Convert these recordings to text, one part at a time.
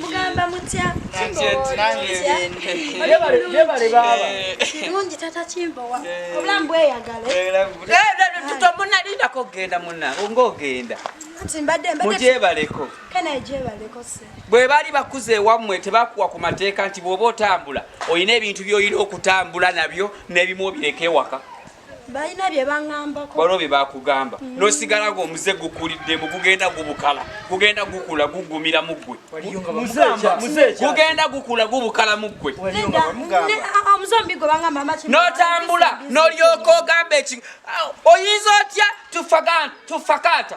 mugamba mutya kirungi tata kimbowa obulamu bweyagaletutomunalindako okugenda muna ngaogenda mugyebaleko bwe baali bakuza ewammwe tebakuwa ku mateeka nti bw'oba otambula olina ebintu by'olina okutambula nabyo n'ebimu obireka ewaka balina bye baŋambako waliwo bye bakugamba mm. nosigala nga omuze gukuliddemu gugenda gubukala gugenda gukula gugumira mu ggwe gugenda gukula gubukala mu ggwe notambula nolyoka ogamba eki oyinza otya tufakata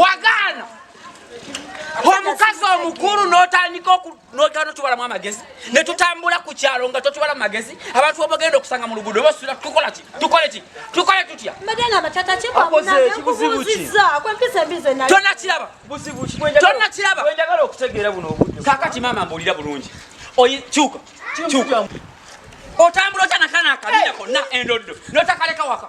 wagaana omukazi omukulu notandika notano tubalamu amagezi netutambula ku kyalo nga totubala mu magezi abantu obagenda okusanga mu luguudo basula tukola ki tukole ki tukole tutya tonakiraba tonakiraba kakati maama mbuulira bulungi kyuka kyuka otambula otya nakana akabina konna endoddo notakaleka waka